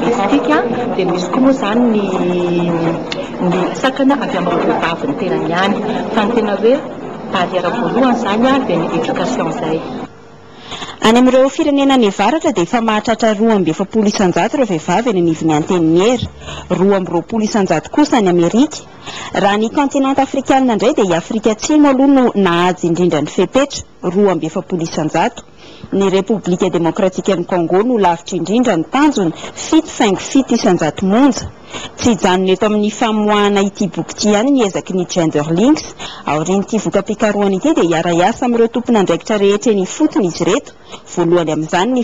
Hitantsika dia misy koa moa izany ny ny sakana avy amin'ny vehivavy ny tenany ihany fa ny tena hoe barrière voalohany izany dia ny éducation izay. Any amin'ireo firenena any avaratra dia efa mahatratra roa amby efapolo isanjato ireo vehivavy eny anivon'ny antenimiera, roa amby roapolo isanjato kosa any Amerika. Raha ny kaontinanta afrikanina indray dia i Afrika Atsimo aloha no nahaja indrindra ny fepetra, roa amby efapolo isanjato. Ny Repoblika Demokratikan'i Kôngô no lavitra indrindra ny tanjona, fito faingo fito isan-jato monja. Tsy hijanona eto amin'ny famoahana ity boky ity ihany ny ezaky ny Genderlinx. Aorian'ity voka-pikarohana ity dia hiara-hiasa amin'ireo tompon'andraikitra rehetra eny ifotony izy ireto, voalohany amin'izany ny.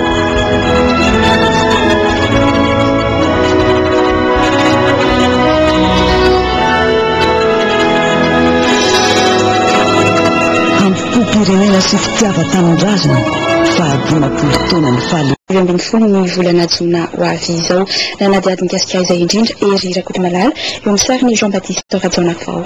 Hampipoam-pirenena sy fitiavan-tanindrazana fahadimampolo taonan'ny fahaleovantena. Roa ambin'ny folo ny volana jona ho avy izao. Nanadihady mikasika izay indrindra Hery Rakotomalala, eo amin'ny sarin'i Jean Baptiste Rajaonarivao.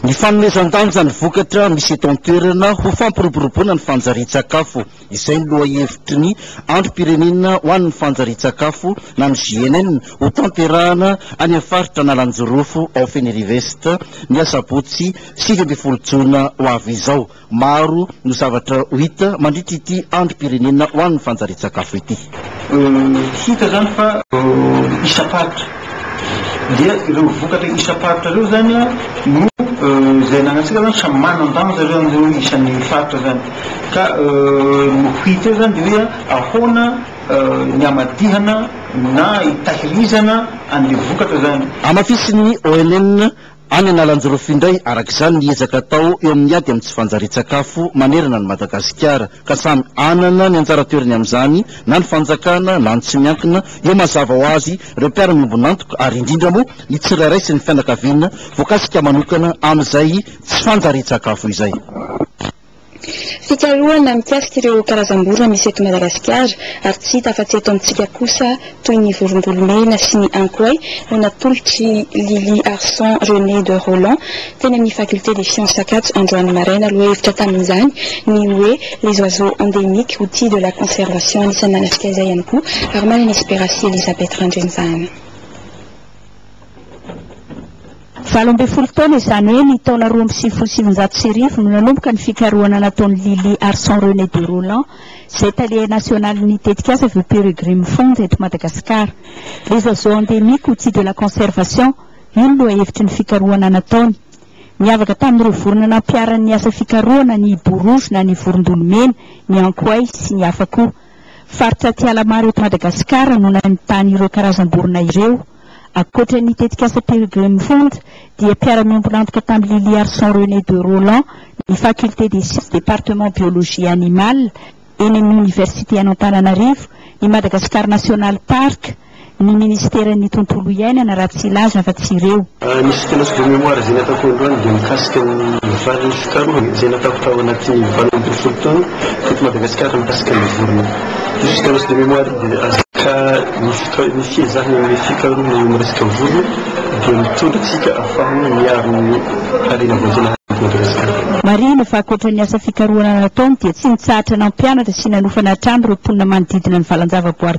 Ny fanomezan-danja ny vokatra misy eto an-toerana ho fampiroboroboana ny fanjarian-tsakafo, izay ny lohahevitry ny Androm-pirenena ho an'ny fanjarian-tsakafo na ny GNN hotanterahana any amin'ny faritra Analanjirofo ao Fenerive-Est, ny asabotsy sivy ambin'ny folo jona ho avy izao. Maro no zavatra ho hita mandritra ity androm-pirenena ho an'ny fanjarian-tsakafo ity. Hita izany fa isam-paritra dia ireo vokatra isam-paritra ireo izany no izay ananantsika izany samy manan-danja ireo amin'ireo isan'ny faritra izany ka ny ho hita eo izany dia hoe ahoana ny hamadihana na hitahirizana an'ilay vokatra izany. Hamafisin'ny ONN Any Analanjirofo indray, araka izany, ny ezaka atao eo amin'ny ady amin'ny tsy fanjarian-tsakafo manerana an'i Madagasikara, ka samy hanana ny anjara toerany amin'izany na ny fanjakana na ny tsy miankina, eo mazava ho azy ireo mpiara-miombon'antoka ary indrindra moa ny tsirairay sy ny fianakaviana voakasika manokana amin'izay tsy fanjarian-tsakafo izay. Fikarohana mikasika ireo karazam-borona misy eto Madagasikara ary tsy hita afa-tsy eto amintsika kosa toy ny vorombolomena sy ny ankoay no natolotr'i Lily Arson Renée de Rolland teny amin'ny Faculté des Sciences Ankatso androany maraina. Lohahevitra tamin'izany ny hoe Les oiseaux endémiques, outils de la conservation. Anisan'ny nanafika izay ihany koa Armane Esperasi Elisabeth Randrianivahana. Valo ambin'ny folo taona, izany hoe ny taona roa amby sivifolo sy sivinjato sy arivo, no nanomboka ny fikarohana nataon'i Lily Arson René de Rolland, izay tale nasionalin'ny tetikasa Vue Peregrine Fund eto Madagasikara. Les oiseaux endémiques, outils de la conservation, io no lohahevitry ny fikarohana nataony. Niavaka tamin'ireo vorona nampiharan'ny asa fikarohana ny Hiboa rojo na ny Vorondolo mena, ny Ankoay, sy ny hafa koa. Faritra aty Alamaro eto Madagasikara no nahitana ireo karazam-borona ireo. Ankoatra ny tetikasa Pilgrim Fund dia mpiara-miombon'antoka tamin'i Liliarson René de Rolland ny Faculté des Sciences Département Biologie Animale eny amin'ny Oniversite an'Antananarivo, ny Madagascar National Park, ny Ministeran'ny Tontolo Iainana raha tsy hilaza fa tsy ireo. Ny soutenance de mémoire izay nataoko androany dia mikasika ny vary fikarohana izay nataoko tao anatin'ny valo ambin'ny folo taona teto Madagasikara mikasika ny vorona. Io soutenance de mémoire io dia Ka ny fika ny fiezahana amin'ny fikarohana eo amin'ny resaka vorona dia mitondra antsika hahafahana miaro ny harena voajanahary eto Madagasikara. Marihina fa ankoatra ny asa fikarohana nataony dia tsy nitsahatra nampianatra sy nanofa nahatrany ireo mponina manodidina ny valan-javaboary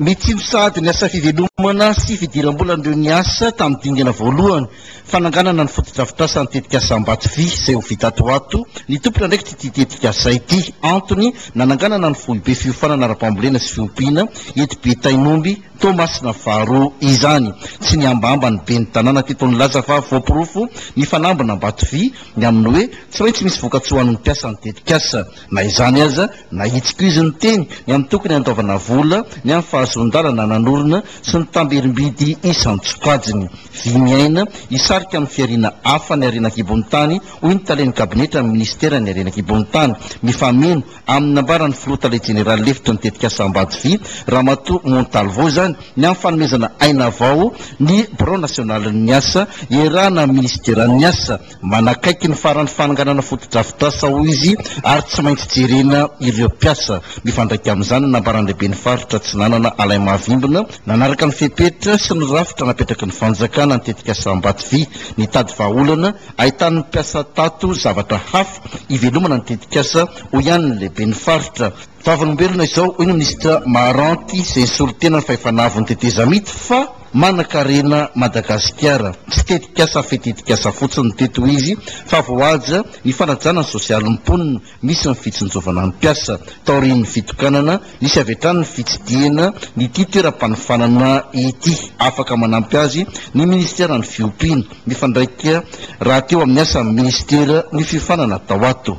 Mitsilo sahady ny asa fivelomana sy fidiram-bolan'ireo niasa tamin'ny dingana voalohany fananganana ny fotodrafitrasan'ny tetikasa Ambatovy izay ho vita ato ho ato ny tompon'andraikitr'ity tetikasa ity. Antony, nananganana ny foibe fiofanana ara-pambolena sy fiompiana eto Betainomby, Toamasina faharoa, izany. Tsy nihambahamba ny ben'ny tanàna teto nilaza fa voaporofo ny fanambin'Ambatovy ny amin'ny hoe tsy maintsy misy vokatsoa ho an'ny mpiasan'ny tetikasa. Na izany aza, nahitsiko izy niteny ny amin'ny tokony handoavana vola, ny amin'ny fahazoan-dalana nanorina sy ny tamberim-bidy isan-tsokajiny. Vy miaina, hisarika amin'ny fihariana hafa ny harena an-kibon'ny tany, hoy ny talen'ny kabinetran'ny minisiteran'ny harena an-kibon'ny tany. Mifameno amin'ny nambaran'ny filoha tale jeneraly lefitry ny tetikasa Ambajy Vy, Ramatoa Montalvo izany, ny amin'ny fanomezana aina vao ny birao nasionalin'ny asa iarahana amin'ny minisiteran'ny asa, Manakaiky ny faran'ny fananganana fotodrafitrasa, hoy izy, ary tsy maintsy jerena ireo mpiasa. Mifandraika amin'izany ny nambaran'ny lehiben'ny faritra Atsinanana, Alain Mahavimbina, nanaraka ny fepetra sy ny rafitra napetraky ny fanjakana ny tetikasa Ambatovy, nitady vahaolana ahitan'ny mpiasa tato zavatra hafa hivelomana ny tetikasa, hoy ihany ny lehiben'ny faritra. Vavolombelona izao, hoy ny minisitra Maharanty izay nisolo tena ny fahefana avon'ny tetezamita, fa. Manankarena Madagasikara. Tsy tetikasa fe tetikasa fotsiny teto izy fa voahaja ny fanajana ny sosialin'ny mponina, misy ny fitsinjovana ny mpiasa. Taorian'ny fitokanana, nisy avy hatrany ny fitsidihana ity toeram-panofanana ity. Afaka manampy azy ny minisiteran'ny fiompiana. mifandraika rahateo amin'ny asan'ny Minisitera ny fiofanana tao ato.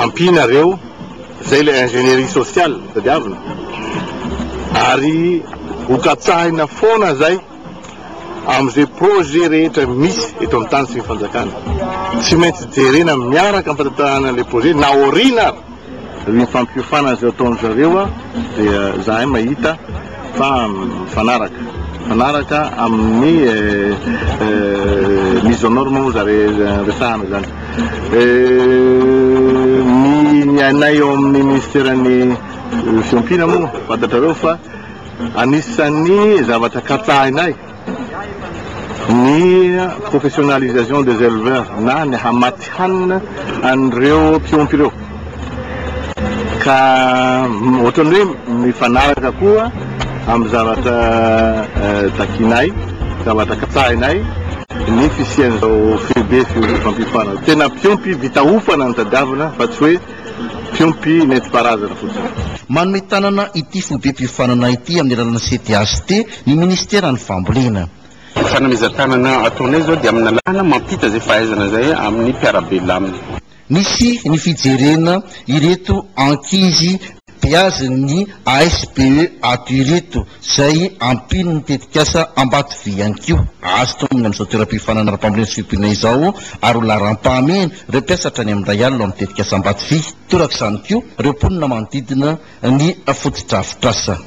Ampianareo izay ilay ingénierie sociale tadiavina ary hokatsahina foana izay amin'izay projet rehetra misy eto amin'ny tany sy ny fanjakana. Tsy maintsy jerena miaraka amin'ny fantantarahana ilay projet na aoriana ary. Ny fampiofanana izay ataon-dry zareo dia izahay mahita fa mifanaraka. Mifanaraka amin'ny mise aux normes moa izany resahana izany. Ny ny anay eo amin'ny minisiteran'ny fiompiana moa fantatrareo fa anisan'ny zavatra katsahinay. ny professionnalisation des éleveurs na ny hamatsy hanina an'ireo mpiompy ireo ka ohatran'ny hoe mifanaraka koa amin'ny zavatra takianay, zavatra katsahinay ny fisian'izao foibe fiompam-piofanana. Tena mpiompy vita hofana no tadiavina fa tsy hoe mpiompy nentim-paharazana fotsiny. Manome tanana ity foibe-piofanana ity amin'ny alalan'ny CTHT Ny Ministeran'ny Fambolena. Fanomezan-tanana ataonay izao dia amin'ny lalàna mampita izay fahaizana izay amin'ny mpiara-belona aminy. Nisy ny fijerena ireto ankizy beazin'ny ASBE ato ireto izay ampian'ny tetikasa Ambatovy ihany koa. Azo tononina amin'izao toeram-piofanana ara-pambolena sy fiompiana izao ary ho laharam-pahamehana ireo mpiasa hatrany amin'ny iray alina ao amin'ny tetikasa Ambatovy. Torak'izany koa ireo mponina manodidina ny fotodrafitrasa.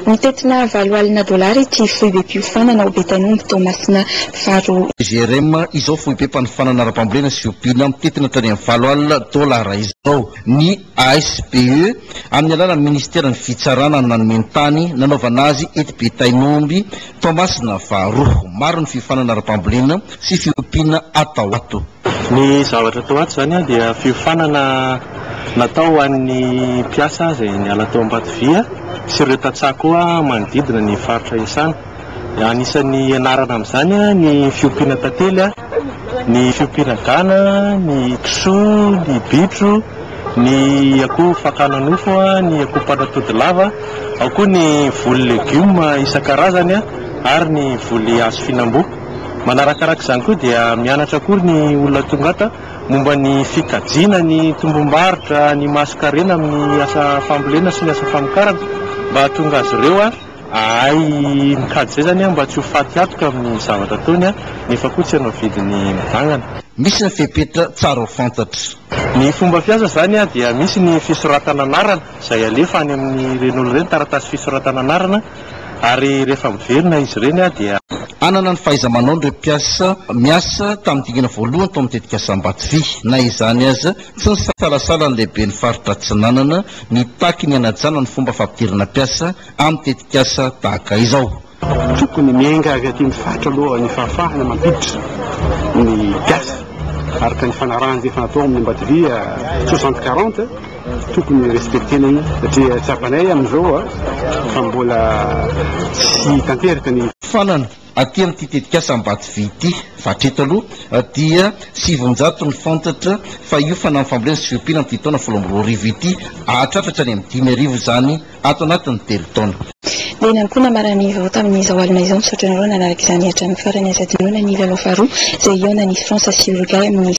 Mitentina valo alina dolara ity foibem-piofanana ao Betainomby, Toamasina faharoa. GRM, izao foibem-panofanana ara-pambolena sy fiompiana mitentina hatrany amin'ny valo alina dolara izao. Ny ASBE, amin'ny alalan'ny minisiteran'ny Fitsarana no nanome ny tany nanaovana azy eto Betainomby, Toamasina faharoa. Maro ny fiofanana ara-pambolena sy fiompiana atao ato. Ny zavatra atao ato izany dia fiofanana natao ho an'ny mpiasa izay niala tao Ambatovia sy ireo tantsaha koa manodidina ny faritra iasana. Anisan'ny ianarana amin'izany ny fiompiana tantely, ny fiompiana gana, ny kisoa, ny bitro, ny akoho fakana nofo, ny akoho mpanatody lava, ao koa ny voly legioma isan-karazany ary ny voly hazo fihinam-boa. Manarakaraka izany koa dia mianatra akory ny olona tonga ato momba ny fikajiana ny tombom-barotra, ny mason-karena amin'ny asa fambolena sy ny asa famokarana mba hahatonga azy ireo hahay mikajy izay izany mba tsy ho faty hatoka amin'ny zavatra ataony nefa koa tsy hanao vidiny mivangana. Misy ny fepetra tsara ho fantatra. Ny fomba fiasa izany dia misy ny fisoratana anarana izay alefa any amin'ireny olona ireny, taratasy fisoratana anarana, Ary rehefa miverina izy ireny dia. Hanana ny fahaiza-manaon'ireo mpiasa miasa tamin'ny dingana voalohany tao amin'ny tetikasa Ambatovy. Na izany aza, tsy nisalasala ny lehiben'ny faritra Atsinanana nitaky ny hanajana ny fomba fampidirana mpiasa amin'ny tetikasa tahaka izao. Tokony miainga avy aty amin'ny faritra aloha ny fahafahana mampiditra ny mpiasa araka ny fanarahana izay efa natao amin'ny Ambatovy soixante quarante. Tokony respectena io satria tsapanay amin'izao fa mbola tsy tanteraka ny. Farany aty amin'ity tetikasa Ambatovy ity fa hatreto aloha dia sivinjato ny fantatra fa io fanamby fambolena sy fiompiana amin'ity taona folo amby roa arivo ity hahatratra hatrany amin'ny dimy arivo izany ato anatin'ny telo taona. Dia iny ihany koa namaran'ny vaovao tamin'izao alina izao. Misaotra anareo nanaraka izany hatramin'ny farany aza. Dinoina ny lalao faharoa izay hihaonan'i France sy Uruguay amin'ny.